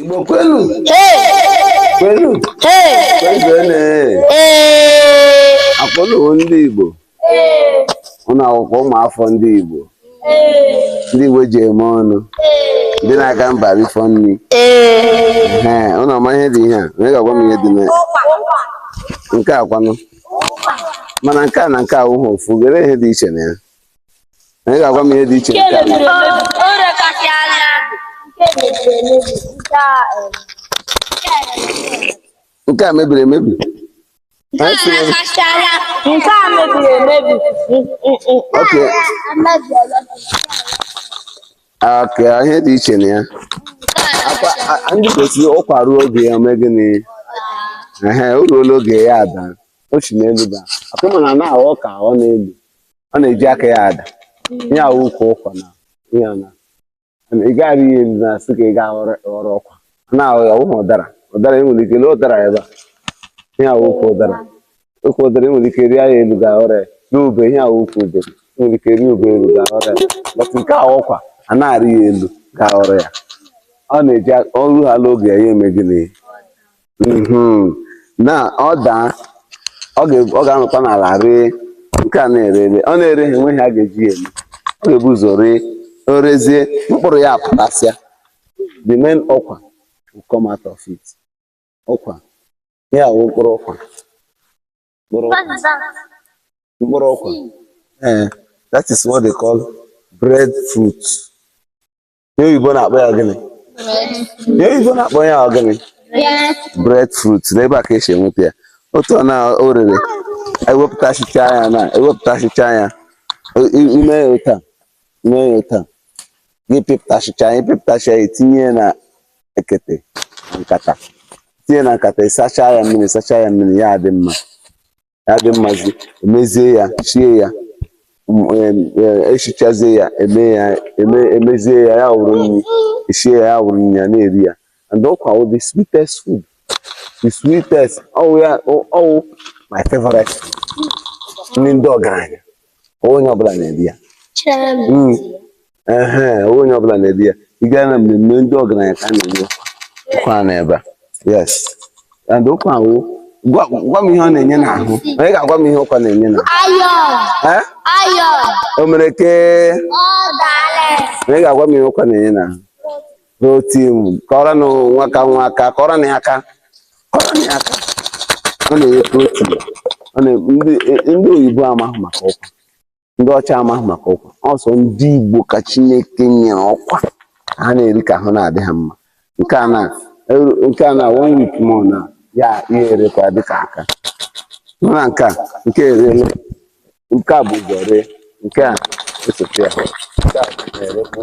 Igbo kwenu kwenu kwezuenu akpọlụwo ndị Igbo ụlọ akwụkwọ ụmụafọ ndị Igbo ndị Igbo ji eme ọnụ ndị na-aga mba rifọ nri ụlọ ọma ihe dị ihe a onye ga-agwa m ihe dị na nke a kwanụ mana nke a na nke awụhụ ofu gere ihe dị iche na ya Onye ga-agwa m ihe dị iche nke a na- O rekasị anya. Nke a mebiri emebi. Anyị O sịrị, rekasị anya. Nke a mebiri emebi. okay, okay, ihe dị iche na ya. Ọkwa, a- a- ndị Igbo sịrị ụkwa ruo oge ya o mee gịnị? Ehe, o ruola oge ya adaa. O si n'elu daa. Ọkwa ma na na-aghọ ka ọ n'elu. ọ na-eji aka ya ada ihe a wụ ụkwa ụkwa na ihe na ị gaghị arị ya elu na asị ka ị ga ghọrọ ọkwa na-ahụ ya ụmụ ụdara ụdara enwere ike lee ụdara ebe a ihe a wụkwa ụdara ọkwa ụdara enwere ike rịa ya elu ga ghọrọ ya rie ube ihe a wụkwa ube enwere ike rịa ube elu ga ghọrọ ya but nke a wụ ụkwa anaghị arị ya elu ga ghọrọ ya ọ na-eji o ruhala oge ya ya eme gịnị Mhm. na ọ daa ọ ga- ọ ga-anọkwa n'ala ree nke a na-ere ere ọ na-erehị enweghị ihe a ga-eji ya eme ọ ga-ebu ụzọ ree o rezie mkpụrụ ya apụtasịa the main ụkwa will come out of it ọkwa ya wụ mkpụrụ ụkwa mkpụrụ ụkwa mkpụrụ ụkwa ee that is what they call bread fruit ihe oyibo na-akpọ ya gịnị ihe oyibo na-akpọ ya ọ gịnị bread fruit n'ebe a ka e si enweta ya otu ọ na o rere ewepụtachicha ya na ewepụtachicha ya i- i- ime ya otu a ime ya otu a gị pịpụtachicha ya ị pịpụtacha ya etinye ya na ekete na nkata tinye na nkata ị sacha ya mmiri sacha ya mmiri ya adị mma ya adị mmazi emezie ya sie ya m- em, eh, esichazie ya eme ya eme emezie ya ya wụrụ nri esie ya ya wụrụ nri ya na-eri ya and ụkwa wụ the sweetest food the sweetest ọ wụ ya ọ- ọ wụ my favorite nri ndị ọgaranya ọ wụhụ onye ọbụla na-eri ya Mm. ehe ọ wụhụ onye ọbụla na-eri ya ị gaa na mmemme ndị ọgaranya ka a na-enye ụkwa a n'ebe a yes and ụkwa ahụ gwa gwa m ihe ọ na-enye n'ahụ onye ga-agwa m ihe ụkwa na-enye n'ahụ Iron. Eh? Iron. o mere ke Ọ daala. onye ga-agwa m ihe ụkwa na-enye n'ahụ protein kụọrọnụ nwaka nwa aka kụọrọnụ ya aka kụọrọnụ ya aka ọ na-enye protein ọ na ndị ndị oyibo amaghị maka ụkwa ndị ọcha amahụ maka ụkwa ọ sọ ndị Igbo ka Chineke nyere ụkwa ha na-eri ka ahụ na-adị ha mma nke a na nke a na one week more na ya ya erekwa dịka aka na nke a nke erele nke a bu ụzọ ree nke a esote ya nke a na-erekwa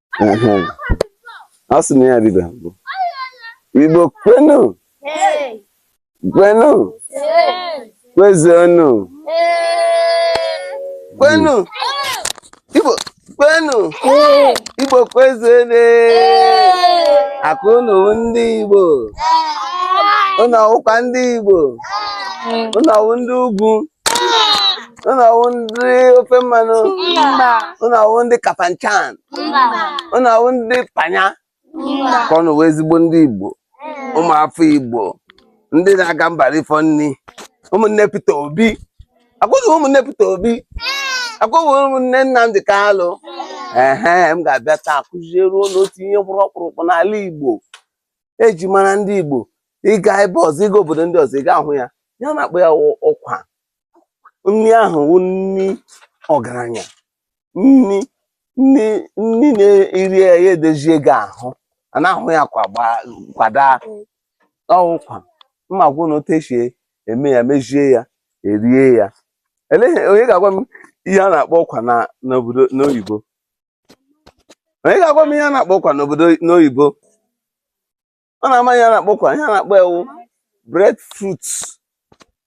ọ sị na ya dịba mbụ igbo kwenu kwenu kwezuonu kwenu igbo kwenu igbo kwezuonu akụ unu wụ ndị igbo unu ọ wụkwa ndị igbo unu ọ wụ ndị ugwu unu ọ wụ ndị ofe mmanụ unu ọ wụ ndị kapanchan unu ọ wụ ndị panya ka unu wụ ezigbo ndị igbo ụmụafọ igbo ndị na-aga mba rifọ nri ụmụnne Peter Obi akwụghị ụmụnne Peter Obi akwụghị ụmụnne Nnamdi Kanu ehe m ga-abịa taa kụziere unu otu ihe kpụrụ ọkpụrụkpụ n'ala igbo eji mara ndị Igbo ị ga ebe ọzọ ị ga obodo ndị ọzọ ị ga-ahụ ya ihe a na-akpọ ya wụ ụkwa nri ahụ wụ nri ọgaranya nri nri nri na i rie ya ya edozie gị ahụ a na-ahụ ya kwa gbaa kwada ọ wụkwa mmọgwụ na otu esi eme ya mezie ya erie ya elee ihe- onye ga-agwa m ihe a na-akpọ ụkwa na n'obodo n'oyibo onye ga-agwa m ihe a na-akpọ ụkwa n'obodo n'oyibo ọ na-ama ihe a na-akpọ ụkwa ihe a na-akpọ ewu bread fruit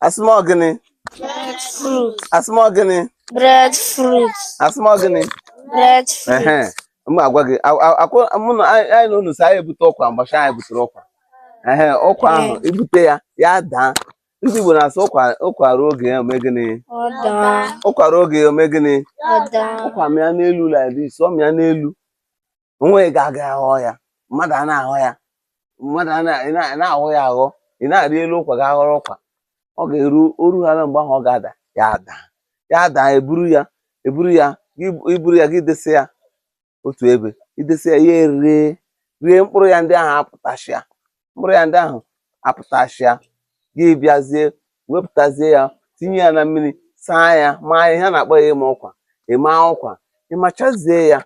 asịmọ gịnị Bread fruit. asịmọ gịnị Bread fruit. asịmọ gịnị Bread fruit. ehe m agwa gị a- a- akwụ- mụ na anyị anyị na unu si anyị ebute ụkwa mgbachi anyị butere ụkwa ehe ụkwa ahụ ibute ya ya daa ndị Igbo na-asị ụkwa ruo oge ya o mee gịnị ụkwa ruo oge ya o mee gịnị ụkwa mịa n'elu like this ọ mịa n'elu onweghị ga-aga aghọ ya mmadụ a na-aghọ ya mmadụ na-aghọ ya aghọ ị na-arị elu ụkwa gaa ghọrọ ụkwa ọ ga-eru o ruhala mgbe ahụ ọ ga-ada ya daa ya daa e buru ya e buru ya i buru ya gị desi ya otu ebe i desi ya ya eree ree mkpụrụ ya ndị ahụ apụtachịa mkpụrụ ya ndị ahụ apụtachịa gị bịazie wepụtazie ya tinye ya na mmiri saa ya maa ya ihe a na-akpọ ya ịma ụkwa ịma ụkwa ị machazie ya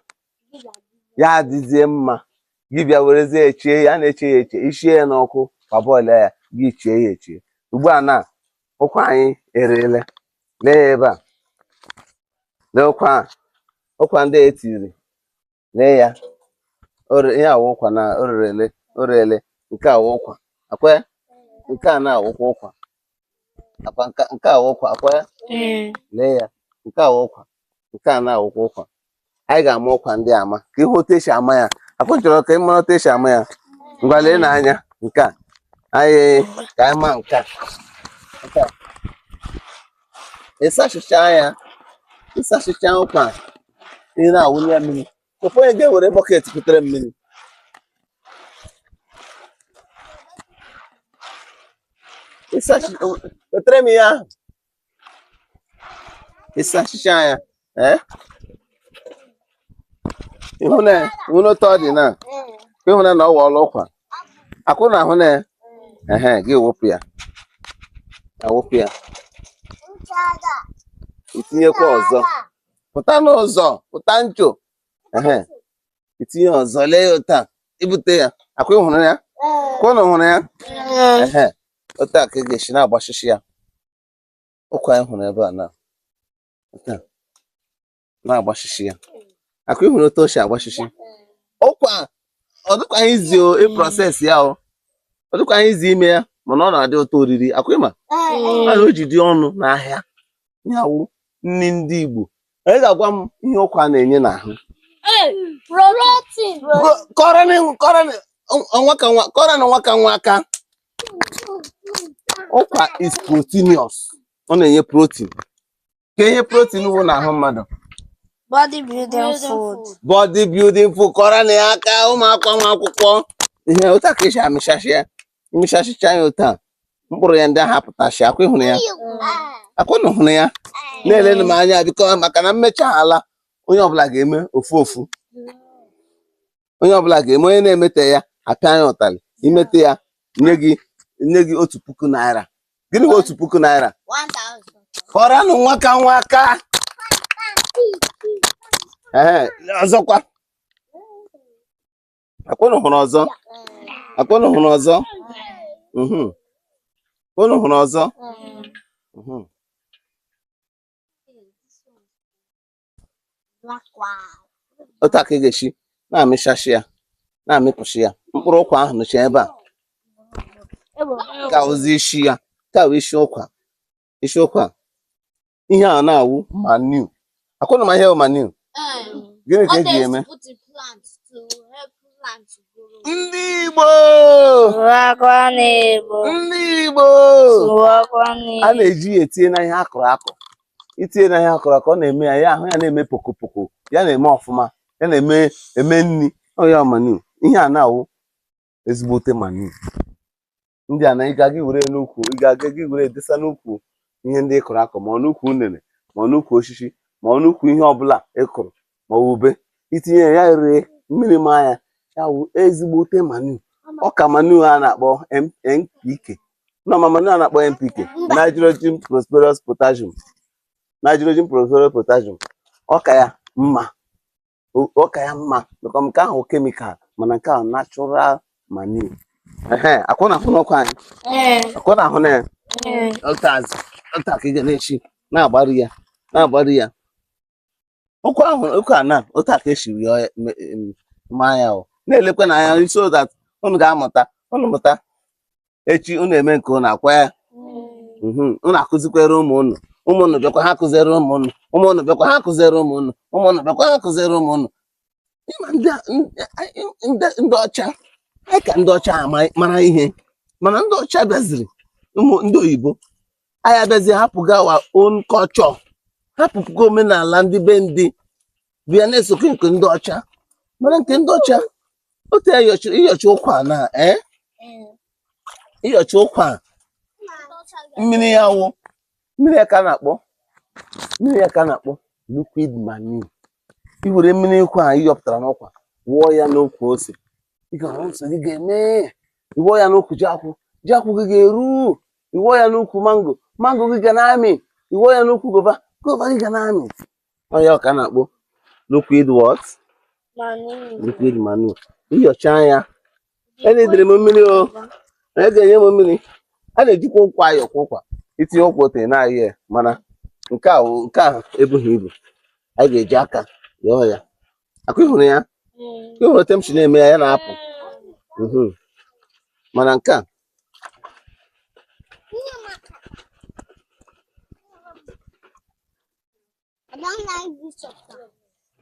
ya adịzie mma gị bịa werezie chee ya a na-eche ya eche i sie ya n'ọkụ parboil ya gị chee ya eche ugbu a na ụkwa anyị ereele lee ya ebe a lee ụkwa a ụkwa ndị e tiri lee ya ihe a wụ ụkwa na o rerele o reele nke a wụ ụkwa akwa nke a na-awụkwa ụkwa akwa nke a wụ ụkwa akwa lee ya nke a wụ ụkwa nke a na-awụkwa ụkwa anyị ga-ama ụkwa ndị ama ka ị hụ otu e si ama ya akwa ụnụ chọrọ ka ị mara otu e si ama ya ngwa leenụ anya nke a anyị ka anyị ma nke a nke a ị sachịcha ya ị sachịcha ụkwa ị na-awụnye ya mmiri ofu onye ga-ewere bọket kutere mmiri ịsachi wetara m ihe ahụ ị sachịcha ya ee eh? ị hụna ị hụna otu ọ dị na ị hụna na ọ wọọla ụkwa akwa ụnụ ahụna ya ehe gị wụpụ ya awụpụ ya i tinyekwa ọzọ pụta n'ụzọ pụta ncho ehe i tinye ọzọ lee ya otu a i bute ya akwa ị hụrụ ya akwa ụnụ hụrụ ya ehe otu a ka ị ga-esi na-agbasisi ya ụkwa anyị hụrụ ebe a na otu a na-agbasisi ya akwa ị hụrụ otu o si agbasisi ụkwa ọ dịkwaghị easy o ịprocess ya o ọ dịkwaghị easy ime ya mana ọ na-adị ụtọ oriri akwa ị ma na o ji dị ọnụ n'ahịa ya wụ nri ndị Igbo onye ga-agwa m ihe ụkwa na-enye n'ahụ kụọrọnụ nwa aka nwa aka ụkwa is proteinous ọ na-enye protein ka ihe protein wụ n'ahụ mmadụ body building food body building food kụọrọnụ ya aka ụmụ akwụkwọ ehe otu a ka e si amịchachi ya m mechachịcha ya otu a mkpụrụ ya ndị ahụ apụtachi akwa ị hụrụ ya akwa ụnụ hụrụ ya na-elenu m anya biko maka na m mechaala onye ọbụla ga-eme ofu ofu onye ọbụla ga-eme onye na-emete ya apịa m ya ụtalị i mete ya nye gị nye gị otu puku naira gịnị wụ otu puku naira kụọrọnụ nwa aka nwa aka ee ọzọkwa akwa ụnụ hụrụ ọzọ akwa ụnụ hụrụ ọzọ mhm. akwa ụnụ hụrụ ọzọ mhm. otu a ka ị ga-esi na-amịchashi ya na-amịpụsị ya mkpụrụ ụkwa ahụ nọcha ebe a nke a wụzi isi ya nke a wụ isi ụkwa isi ụkwa ihe a na-awụ manure akwa unu ma ihe bụ manure gịnị ka eji ya eme o a na-eji ya etinye na ihe akụrụ akụ itinye na ihe akụrụ akụ ọ na-eme ya ya ahụ ya na-eme pokopoko ya na-eme ọfụma ya na-eme nri ọ ya wụ manure ihe a na-awụ ezigbote manure ndị a na ị ga-aga gị were edesa n'ukwu ihe ndị ị kụrụ akụ ma ọ n'ukwu unere ma ọ n'ukwu osisi ma ọ n'ukwu ihe ọbụla ị kụrụ ma ọ ube itinye ya ree mmiri maa ya ya wụ ezigbote manure ọ ka manure a na-akpọ NPK mma manure a na-akpọ NPK nitrogen phosphorus potassium nitrogen phosphorus potassium ọ ka ya mma O- ọ ka ya mma maka nke ahụ chemical mana nke a wụ natural manure ehe akwa unu ahụna ụkwa anyị Ee, akwa unu ahụna ya ee. otu a ka ị ga na-esi na-agbari ya na-agbari ya ụkwa ahụ ụkwa a na otu a ka esiri ya ọya- me- em, maa ya o na-elekwanụ anya so that unu ga-amụta unu mụta echi unu eme nke unu akwa ya mhm. unu akụzikwere ụmụ unu ụmụ unu bịakwa ha kụziere ụmụ ha akwa anyị ka ndị ọcha anyị ka ndị ọcha mara ihe mana ndị ọcha bịaziri ụmụ ndị oyibo anyị abịazi hapụga our own culture hapụpụga omenala ndị be anyị bịa na-esokọ nke ndị ọcha mana nke ndị ọcha otu ya ị yọcha ụkwa na ee ị yọcha ụkwa mmiri ya wụ mmiri ya ka a na-akpọ mmiri ya ka a na-akpọ liquid manure i were mmiri ụkwa a ị yọpụtara n'ụkwa wụọ ya n'ukwu ose ị ga-ahụ ose gị ga-eme ị wụọ ya n'ukwu ji akpụ ji akpụ gị ga-eru ị wụọ ya n'ukwu mango mango gị ga na-amị ị wụọ ya n'ukwu guava guava gị ga na-amị ọ ya ka a na-akpọ liquid what liquid manure ị yọcha ya enidere m mmiri o onye ga-enye m mmiri a na-ejikwa ụkwụ ayọ kwa ụkwa itinye ụkwụ otu a na-ayọ ya mana nke a nke a ebughị ibu anyị ga-eji aka yọọ ya akwa ị hụrụ ya mm. ị hụrụ otu m si na-eme ya ya na-apụ mhm. mana nke a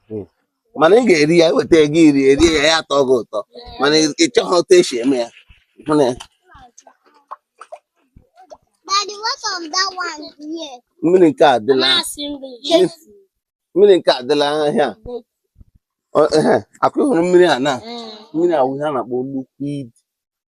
Hmm. mana ị ga-eri ya eweta gị iri eri ya ya atọ gị ụtọ mana ị chọghị otu esi eme ya mmiri nke adịla mmiri nke adịla ahịa akwa ị hụrụ mmiri a na hmm. mmiri a wụ ihe a na-akpọ liquid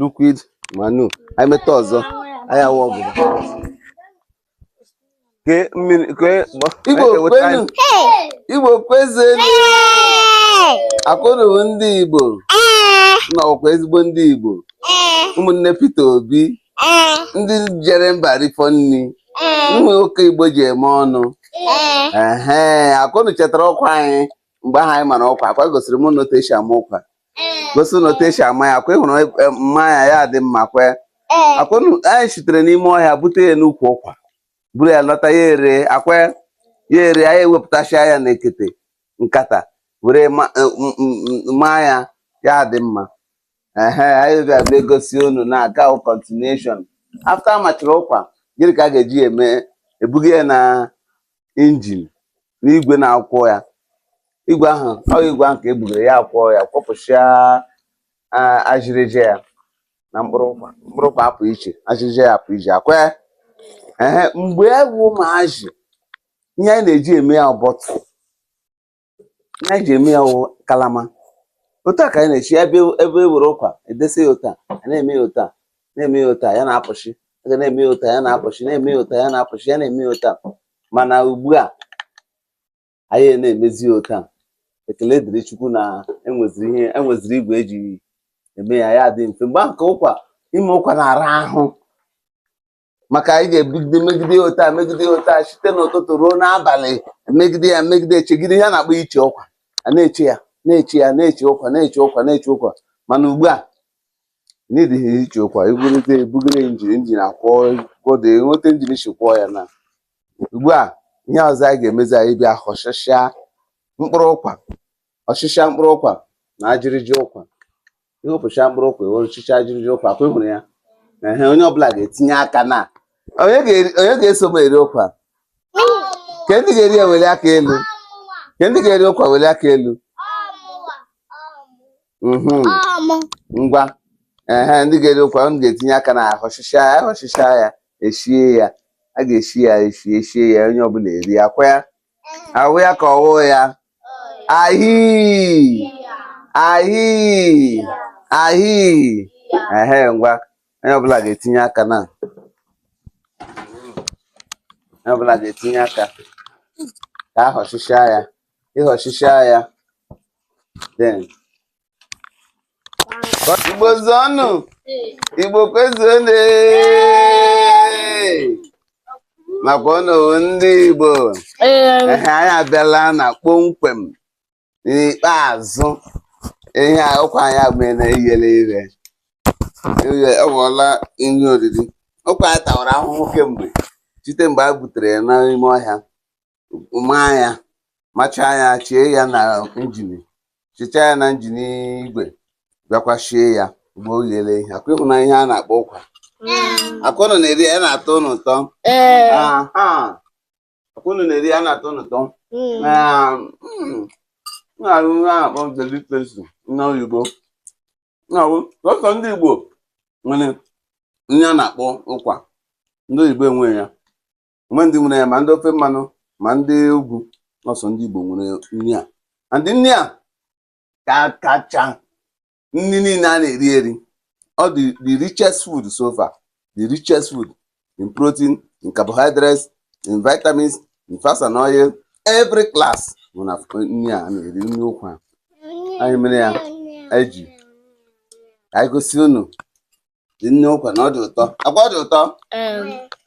liquid manure anyị meta ọzọ anyị awụ ọgụ kee mmiri kee Igbo kwenu Igbo kwezenu akwa unu bụ ndị Igbo na ọkwa ezigbo ndị Igbo ụmụnne Peter Obi ndị jere mba rifọ nri ụmụ nwoke Igbo ji eme ọnụ ee akwa unu chetara ụkwa anyị mgbe ahụ anyị mara ụkwa akwa egosiri m unu otu esi ama ụkwa gosi unu otu esi ama ya akwa ịhụrụ e, maa ya ya dị mma kwe akwa anyị sitere n'ime ọhịa bute ya n'ukwu ụkwa buru ya lọta ya ere akwa ya ere anyị ewepụtasịa ya na ekete nkata were e, maa ya ya dị mma ehe anyị bịa bịa gosi unu nke a wụ continuation after amachiri ụkwa gịnị ka a ga-eji ya eme ebuga ya na injin n'igwe na-akwọ ya igwe ahụ ọ igwe ahụ ka e bugara ya akwọ ya kwọpụsịa ajịrịja ya na mkpụrụ ụkwa mkpụrụ ụkwa apụ iche ajịrịja ya apụ iche akwa ya ee mgbe anyị wụ ụmụazị ihe anyị na-eji eme ya wụ bottle ihe anyị ji eme ya wụ kalama otu a ka anyị na-eshi ebe ebe e were ụkwa edesa ya otu a a na-eme ya otu a na-eme ya otu a ya na-apụsị aga na-eme ya otu a ya na-apụsị na-eme ya otu a ya na-apụsị ya na-eme ya otu a mana ugbu a anyị anaghị emezi ya otu a ekele dịrị Chukwu na enweziri ihe enweziri igwe eji eme ya ya dị mfe mgbe ahụ ka ụkwa ime ụkwa na-ara ahụ maka anyị ga-ebugide megide ya otu a megide ya otu a site n'ụtụtụ ruo n'abalị megide ya megide echegide ihe a na-akpọ iche ụkwa a na-eche ya na-eche ya na-eche ụkwa na-eche ụkwa na-eche ụkwa mana ugbu a na adịghị eche ụkwa ibugide ebugide injin injin akwọ kwodo enweta injin isi kwọọ ya na ugbu a ihe ọzọ anyị ga-emezi anyị bịa họchachịa mkpụrụ ụkwa họchịcha mkpụrụ ụkwa na ajịrịja ụkwa ị họpụchaa mkpụrụ ụkwa ewere họchịcha ajịrịja ụkwa akwa ịhụrụ ya ehe onye ọbụla ga-etinye aka na onye ga-eri- onye ga-eso m eri ụkwa kee ndị ga-eri ya weli aka elu kee ndị ga-eri ụkwa weli aka elu mhm ngwa ehe ndị ga-eri ụkwa unu ga-etinye aka na ahọchịcha ya ahọchịcha ya eshie ya a ga-eshi ya eshi eshie ya onye ọbụla eri akwa ya ọwụ ya ka ọwụ ya ahii ahii ahii ehe ngwa onye ọbụla ga-etinye aka na onye ọbụla ga-etinye aka ka ahọchịchịa ya ịhọchịchịa ya then Igbo zuonu Igbo kwezuonu ee maka ọnọwu ndị Igbo ehe anyị abịala na kpọmkwem n'ikpeazụ ihe ụkwa anyị abụghị na iyere ire ọ ghọọla nri oriri ụkwa anyị tawara ahụhụ kemgbe site mgbe a butere ya n'ime ọhịa maa ya machaa ya chie ya na injin chichaa ya na injin igwe bịakwa shie ya mgbe o ghere eghe akwa ị hụna ihe a na-akpọ ụkwa akwa ụnụ na-eri ya na-atọ ụnụ ụtọ akwa ụnụ na-eri ya na-atọ ụnụ ụtọ na-awụ ihe a na-akpọ delicacy na oyibo na-awụ sọsọ ndị Igbo nwere ihe a na-akpọ ụkwa ndị oyibo enweghị ya o nwee ndị nwere ya ma ndị ofe mmanụ ma ndị ugwu na ọ sọ ndị Igbo nwere nri a and nri a ka kacha nri niile a na-eri eri ọ the richest food so far the richest food in protein in carbohydrates in vitamins in fats and oil every class dị na nri a na-eri nri ụkwa a anyị mere ya eji anyị gosi unu dị nri ụkwa na ọ dị ụtọ akwa ọ dị ụtọ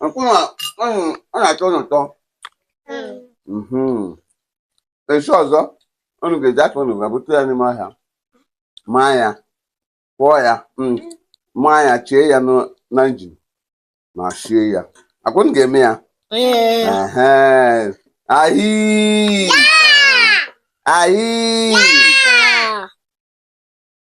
akwa ọ na-atọ ụnụ ụtọ echi ọzọ unu ga-eji aka unu gaa bute ya n'ime ọhịa maa ya kwọọ ya mm, maa ya chie ya na injin ma shie ya akwa unu ga-eme ya ahii ahii